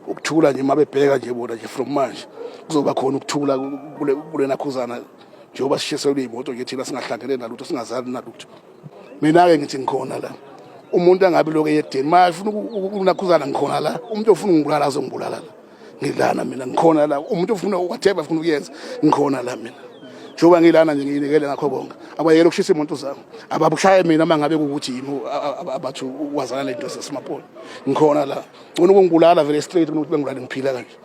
ukuthula nje uma bebheka nje bona nje from manje kuzoba khona ukuthula kulena khuzana njengoba sishiselwe iy'moto nje thina singahlangene nalutho singazani nalutho mina-ke ngithi ngikhona la umuntu angabe lokhu eyedeni uma efuna ukunakhuzana ngikhona la umuntu ofuna ungibulala azongibulala la ngilana mina ngikhona la umuntu ofuna whatever afuna ukuyenza ngikhona la mina njengoba ngilana nje ngiyinikele ngakho konke abayeke ukushisa imoto zami ababushaye mina uma ngabe ukuthi yimi abathi wazana le nto sesimapolo ngikhona la ngcono ukungibulala vele straight kunokuthi bengibulale ngiphila kanje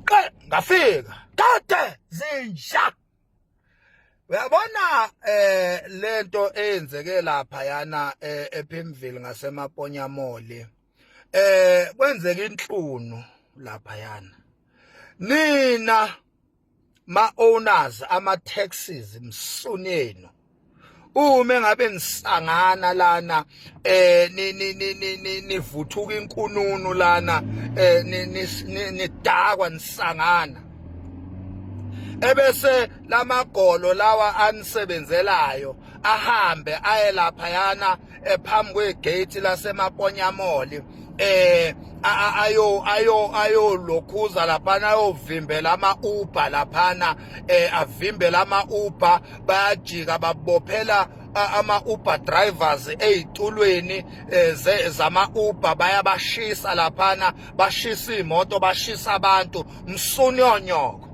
qe ngafika kade zinja uyabona eh lento eyenzeke lapha yana eh, ePimville ngasemaponya mole eh kwenzeka inhlunu lapha yana nina ma owners ama taxes msunenu uma ngabe nisangana lana eh nivuthuka inkununu lana eh nidakwa nisangana ebese lamagolo lawa anisebenzelayo ahambe aye lapha yana ephambi kwegate lasemaponyamoli eh ayo ayo ayo lokhuza laphana ayovimbela ama Uber laphana eh avimbela ama Uber bayajika babophela ama Uber drivers ezitulweni eh, zama Uber bayabashisa laphana bashisa imoto bashisa abantu msunyonyoko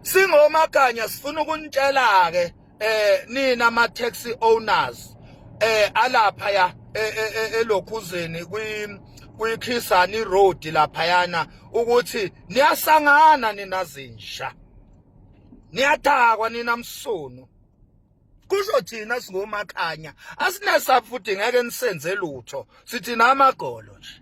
singomakanya sifuna ukunitshela ke eh nina ama taxi owners eh alapha ya eh, eh, eh, elokhuzeni kwi kuyikhisani road laphayana ukuthi niyasangana nina zinsha niyathakwa nina msunu kusho thina singomakhanya asinesa futhi ngeke nisenze lutho sithi namagolo nje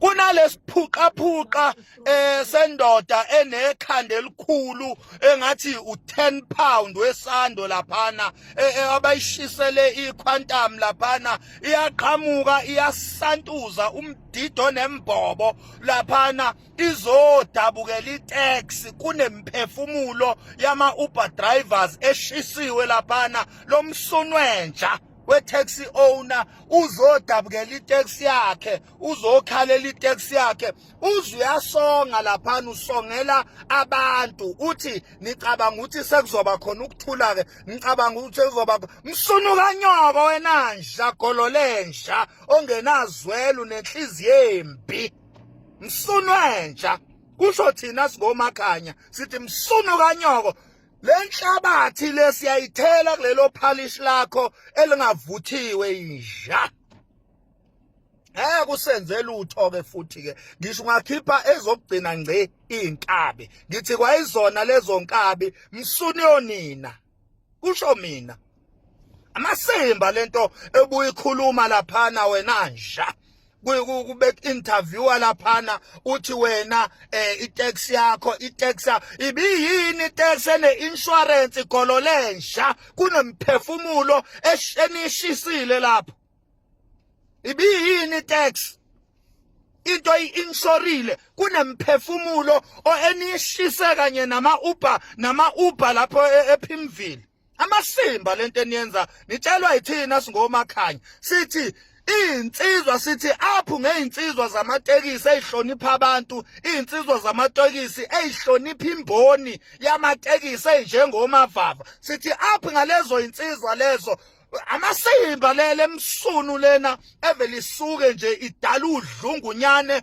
kunalesiphuqaphuqa eh sendoda enekhanda elikhulu engathi u10 pound wesando laphana eh, eh, abayishisele iquantum laphana iyaqhamuka iyasantuza umdido nembobo laphana izodabukela itax kunemphefumulo yama Uber drivers eshisiwe laphana lomsunwenja we-taxi owner uzodabukela itaxi yakhe uzokhalela itaxi yakhe uze uyasonga laphana usongela abantu uthi nicabanga ukuthi sekuzoba khona ukuthula-ke nicabanga ukuthi sekuzoba msunuka nyoko wena nja gololenja ongenazwelo nenhliziyo embi msunwenja kusho thina singomakhanya sithi msunuka nyoko lenhlabathi lesiyayithela kulelo phalish lakho elingavuthiwe inja ngeke usenze lutho ke futhi ke ngisho ungakhipha ezokugcina ngci inkabi ngithi kwayizona lezo nkabi msuni yonina kusho mina amasimba lento ebuyikhuluma laphana wena nja kubek interviewer laphana uthi wena eh itax yakho itax ibiyini itax ene insurance igolo lensha kunemphefumulo eshenishisile lapho ibiyini itax into i-insurile kunemphefumulo eniyishise kanye nama-uber nama-uber lapho e-, ephimvile amasimba lento eniyenza nitshelwa yithina singomakhanya sithi izinsizwa sithi aphu ngezinsizwa zamatekisi ezihlonipha abantu izinsizwa zamatekisi ezihlonipha imboni yamatekisi enjengomavava sithi aphu ngalezo zinsizwa lezo amasimba lele emsunu lena evele isuke nje idala udlungunyane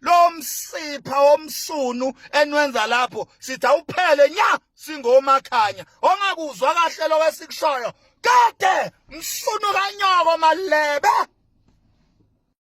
lo msipha womsunu enwenza lapho sithi awuphele nya singomakhanya ongakuzwa kahle lokho esikushoyo kade msunu kanyoko malebe